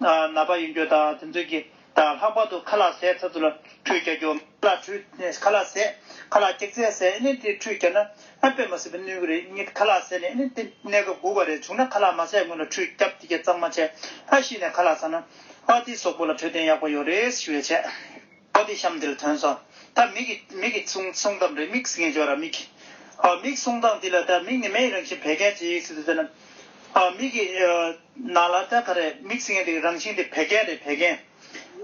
ན་བ་ཡིན་རྒྱུ་དང་དེ་ཚོ་གིས་དང་ལྷག་པར་དུ་ཁ་ལག་ཟས་ཚ་ཚུ་ལ་ཁྲུས་བྱ་རྒྱུ། ཁ་ལག་ཁྲུས་ཁ་ལག་ཟས་ཁ་ལག་སྐྱག་རྫས་ཟས་ཨེ་ནས་དེ་ཁྲུས་བྱས་ན་ཨ་པད་མ་སེ་པི་གནོན་གི་རེད་གཉིས་ཁ་ལག་ཟས་ནས་ཨེ་ནས་དེ་གནས་སྐབས་སྒུག་པ་རེད་བྱུང་ན་ཁ་ལག་མ་ཟས་སྔོན་ལ་ཁྲུས་སྐྱབས་དེ་གས་གཙང་མ་བྱས་ཨ་ཤི་ནས་ཁ་ལག་ཟ་ན་ཨ་དེ་སོག་པོ་ལ་འཕྲོད་བསྟེན་ཡག་པོ་ཡོད་རེད་ཞི་བའི་ཆད། པོ་ཏི་གཤམ་འདིར་ཐོན་སོང། ད་མིག་གི་མིག་གི་གསུང་གསུང་གཏམ་རེ་མིག་ཟིག་ངས་བརྗོད་ར་མིག་གི། ཨ་མིག་གསུང་སྟངས་འདི་ལ་ད་མིག་ནི་མེའི་རང་བཞིན་བད་ཀན་ཇི་ཡིག་ཟིག་ཏུ་ཐོན། ཨ་མིག་གི། ནང་ལ་ད་ག་རེ་མིག་ཟིག་ངས་འདི་གི་རང་བཞིན་འདི་བད་ཀན་རེད་བད་ཀན།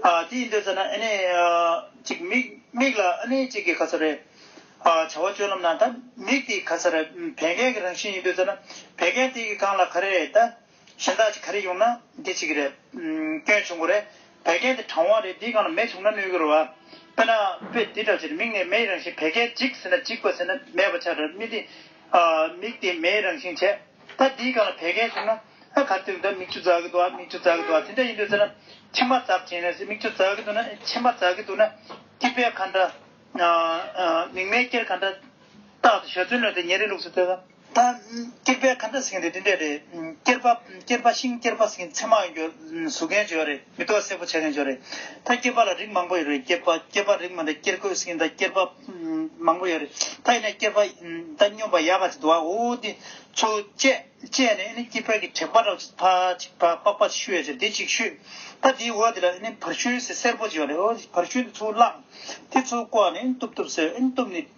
ཨ་དེ་ཡིན་དུས་ཟེར་ན་ཨ་ནི། ཅིག་མིག་མིག་ལ་ཨ་ནི་ཅིག་གི་ག་ཚོད་རེད། ཨ་བྱ་བ་སྤྱོད་ལམ་ན་ད་མིག་དེ་ག་ཚོད་རེད་བད་ཀན་གི་རང་བཞིན་ཡིན་དུས་ཟེར་ན་བད་ཀན་དེ་གི་གང་ལ་ག་རེ་རེད་ད། གཞན་དག་ཅིག་ག་རེ་ཡོང་ན་འདི་ཅིག་གི་རེད། སྐྱོན་བྱུང་གོ་རེད། བད་ཀན་འདི་གྲང་བ་རེད་འདིའི་སྒང་ལ་མེ་བྱུང་ན་གནོད་གི་རོ། དཔེར་ན་དཔེ་འདི་འདྲ་ཟེར་མིག་ནས་མེའི་རང་བཞིན་བད་ཀན་འཇིག་ཟེར་ན་འཇིག་པ་ཟེར་ན་མེད་པ་ཆགས་དྲགས་མིག་འདི། མིག་འདི་མེའི་རང་བཞིན་བྱས། ད་འདིའི་སྒང་ལ་བད་ཀན་བྱུང་ན། ཨ་ག་དུས་འདི་མིག་ཆུ་འཛག་གི་འདུག་ཨ་མིག་ཆུ་འཛག་གི་འདུག་ཨ་དེ་འདྲ་ཡིན་དུས་ཟེར་ན། མཆི་མ་འཛག་བྱས་ནས་ཟེར་མིག་ཆུ་འཛག་གི་འདུག་ན་མཆི་མ་འཛག་གི་འདུག་ན། སྐྱི་བལ་ག་འདྲ། མིག་མེ་སྐྱེར་ག་འདྲ། རྟག་ཏུ་ཞོ་ཚོན་ལོན་ཏེ་ཉེ་རིང་ལུགས་སུ་བལྟས་ན། ད་སྐྱེར་པའི་ཁ་འདྲ་ཟིང་རེད་འདི་འདྲས་རེད། སྐྱེར་པ་སྐྱེར་པ་ཤིང་སྐྱེར་པ་ཟིང་མཚན་མ་ཡོང་རྒྱུ་བཟོ་མཁན་བྱོས་རེད་མི་ཏོག་སེར་པོ་བྱེད་མཁན་བྱོས་རེད། ད་སྐྱེར་པ་ལ་རིགས་མང་པོ་ཡོད་རེད་སྐྱེར་པ་སྐྱེར་པ་རིགས་མང་རེད་སྐྱེར་གོས་ཟིང་ད་སྐྱེར་པ་མང་པོ་ཡོད་རེད་ད་ཡིན་ན་སྐྱེར་པ་ད་སྨྱོན་པ་ཡག་ག་ཅིག་འདུག་ཨ་འོ་འདི་ཚོ་བཅད་བཅད་ནས་ཨ་ནི་སྐྱེར་པའི་གི་དྲེག་པ་འདྲ་ཅིག་ཕ་ཅིག་ཕ་པགས་པ་ཅིག་ཤུ་ཡོད་རེད་འདི་ཅིག་ཤུ། ད་འདིའི་འོག་འདི་ལ་ཨ་ནི་བར་ཤུན་ཟེར་སེར་པོ་ཅིག་ཡོད་རེད་འོ་འདི་བར་ཤུན་འདི་ཚོ་བླངས། དེ་ཚོ་བཀོག་ནས་ཨ་ནི་གཏུབ་གཏུབ་ཟེར་ཨ་ནི་གཏུབ་ནས།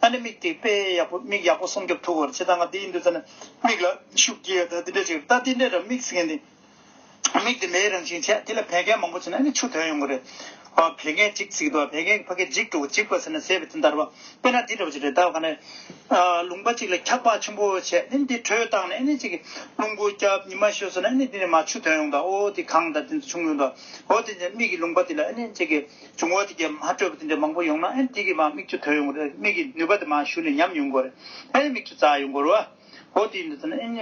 ཨ་ནི་མིག་དེ་དཔེ་ཡག་པོ་མིག་ཡག་པོ་སྲུང་སྐྱོབ་ཐུབ་བོར་བྱེད་ད་ང་དེ་ཡིན་དུས་ད་ནི་མིག་ལ་ཤུགས་རྒྱས་ད་དེ་འདྲ་བྱེད་ད་དེ་འདྲ་འདྲ་མིག་ཟེར་མཁན་དེ་མིག་དེ་མེའི་རང་བཞིན་བྱས་དེ་ལ་བད་ཀན་མང་པོ་བྱས་ན་ཨ་ནི་ཆུ་དོན་ཡོང་གི་རེད་བད་ཀན་གཅིག་བརྩིགས་ད་བད་ཀན་གྱི་ཕ་གི་འཇིགས་འགྲོ་འཇིགས་པ་ཟེར་ན་ཟས་བི་ཏིན་དར་བ་སྤེན་ན་དེ་འདྲ་བ་བྱེད་རེད་ད་ག་ནི་རླུང་པ་གཅིག་ལ་འཁྱག་པ་ཆེན་པོ་བྱས་དེ་ནི་དེ་དྲོད་བཏང་ནས་ཨ་ནི་གཅིག་རླུང་བུ་རྒྱབ་ཉི་མ་ཤོས་ཟེར་ན་ཨ་ནི་དེ་ནི་མ་ཆུ་དོན་ཡོང་ད་ཨོ་དེ་གང་ད་དེ་ཚོ་བྱུང་ཡོང་ད་ཨོ་དེ་ནི་མིག་གི་རླུང་པ་དེ་ལ་ཨ་ནི་གཅིག་བྱུང་བ་དེ་རྒྱ་མ་སྤྲོས་པ་དེ་འདྲ་མང་པོ་ཡོང་ན་ཨེ་འགྲིག་གི་མ་མིག་ཆུ་དོད་ཡོང་གི་རེད་མིག་གི་ནུས་པ་དེ་མ་ཞུ་ནས་ཉམས་ཡོང་གི་རེད་ཨེ་མིག་ཆུ་འཛག་ཡོང་གི་རེད་འོ་དེ་འདྲ་ཟེར་ན་ཨེ་ནི་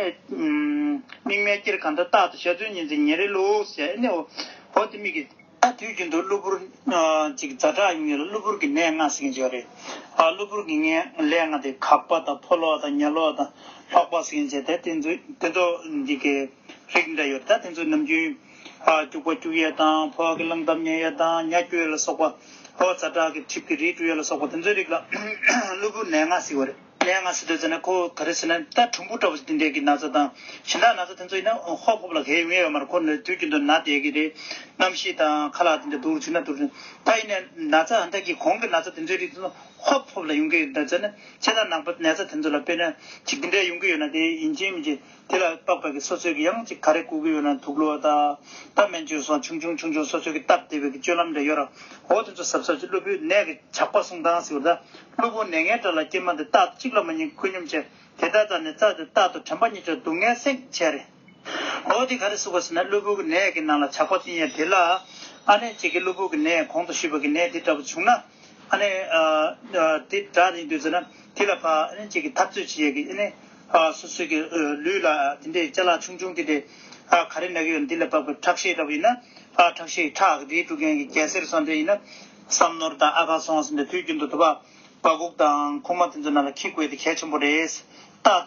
མིག་སྨན་སྐྱེར་གང་འདྲ་བཏགས་ཏེ་ཤ་ཚུན་ཉིན་ཚེ་ཉེ་རེ་ལོགས་ཟེར་ཨེ་ནི་འོ་དེ་མིག་གི། ད་དུས་རྒྱུན་དུ་གློ་བུར་ཅིག་རྫ་བྲག་ཡོང་ཡུལ་ལ་གློ་བུར་གྱི་ནད་ལྔ་ཟེར་གྱིན་བྱས་པ་རེད་གློ་བུར་གྱི་ནད་ལྔ་དེ་གག་པ་དང་ཕོ་ལོག་དང་ཉལ་ལོག་དང་ལྷོག་པ་ཟེར་གྱིན་བྱས་ད་དེ་ཚོ་དེ་ཚོ་འདི་གའི་རིགས་འདྲ་ཡོད་རེད་ད་དེ་ཚོ་ནམ་རྒྱུན། སྐྱུག་པ་སྐྱུག་ཡས་དང་ཕོ་བ་གི་རླངས་འདབ་མཉེན་ཡས་དང་མྱ་སྐྱོ་ཡས་ལ་སོགས་པ། ཕོ་བ་ཚ་དྲག་གི་མཁྲིས་ཀྱི་རིགས་དྲུག་ཡས་ལ་སོགས་པ་དེ་ཚོའི་རིགས་ལ་གློ་བུར་ནད་ལྔ་སྲི་བ་རེད། ནད་ལྔ་སྲི་དོད་ཟེར་ན་ཁོ་ག་རེ་ཟེར་ན་རྟ་གྲུམ་བུ་འདྲ་བོ་ཞིག་འདི་འདྲ་གི་ན་ཚ་དང་གཞན་དག་ན་ཚ་དེ་ཚོ་ཡིན་ན་ཧོ་ཕོབ་ལ་གས་ཉེས་ཡོད་མ་རེད་ཁོ་ནི་དུས་ཀྱི་འདུ་ན་བསྡད་ཀྱི་རེད། རྣམ་ཤེས་དང་ཁ་ལག་དེ་འདྲ་འདུར་ཅིག་ན་འདུར། ད་ཡིན་ནའི་ན་ཚ་ཧམ་ཐག་གིས་གོང་གི་ན་ཚ་དེ་ཚོའི་རིགས་དེ་ཚོ་ཧོ་ཕོབ་ལ་ཡོང་གི་རེད་ཟེར་ན་ཁྱེད་དང་ནང་པ་ནད་ཚ་དེ་ཚོ་ལ་དཔེར་ན་ཅིག་འདི་འདྲ་ཡོང་གི་ཡོད་ན་དེ་ཡིན་གཅིག་མིན་གཅིག། དེ་ལ་རྟོག་པའི་གིས་སོ་སོའི་གིས་ཡང་ཅིག་ག་རེ་བཀུར་གི་ཡོད་ན་དུག་ལོ་ད། ད་སྨན་བཅོས་སོགས་ཆུང་ཆུང་ཆུང་ཆུང་སོ་སོའི་གིས་སྟབས་བདེ་བའི་གིས་སྤྱོད་ལམ་འདྲ་ཡོད་ར། འོ་དེ་ཚོ་ཟབ་ཟབ་ཅིག་སློབ་བུའི་ནད་གིས་ཇག་པ་སྲུང་སྟངས་ཟེར་བ་ད། སློབ་བུ་ནད་ངན་དགྲ་ལ་སྐྱེལ་མ་དེ་རྟག་ཏུ་གཅིག་ལ་མ་གཉིས་ཁོད་སྙོམས་བྱས་དེ་རྟག་རྟག་ནས་རྩ་དེ་རྟག་ཏུ་དྲན་པ་གཉིས་ཆོག་སྡུག་བསྔལ་སེང་བྱས་རེད། འོ་དེ་ག་རེ་བཟོ་དགོས་ཟེར་ན་སློབ་བུའི་གིས་ནད་གིས་ནང་ལ་ཇག་པ་བཙུན་ཡས་དེ་ལ། ཨ་ནེ་ཅིག་གིས་སློབ་བུའི་གིས་ནད་གོང་དུ་ཞུས་པ་གིས་ནད་དེ་འདྲ་བུ་བྱུང་ན། ཨ་ནེ། དེ་འདྲ་རེད་འདོད་ཟེར་ན་དེ་ལ་ཕ་ཨ་ནེ་ཅིག་གིས་འཐབ་རྩོད་བྱེད་ཡས་གིས་ཨ་ནེ། སོ་སོའི་གི་ལུས་ལ་དེ་འདྲའི་རྩ་ལག་ཆུང་ཆུང་དེ་འདྲའི་ག་རེ་ན་གི་ཡོད་ན་དེ་ལ་དཔག་པའི་ཁྲག་ཤེད་འདྲ་བོ་ཡིན་ན། ཁྲག་ཤེད་ཁྲག་དེའི་དཀྲུགས་མཁན་གི་རྒྱལ་སྲས་རུ་སྲ་འདྲ་ཡིན་ན། བསམ་ནོར་དང་ཨ་ཁ་སོང་ཟིན་པའི་དུས་རྒྱུན་དུ་དུ་བ། བ་གུག་དང་ཁུག་མ་དེ་ཚོའི་ནང་ལ་ཁྱི་བཀོལ་དེ་གལ་ཆེན་པོ་རེད། རྟགས།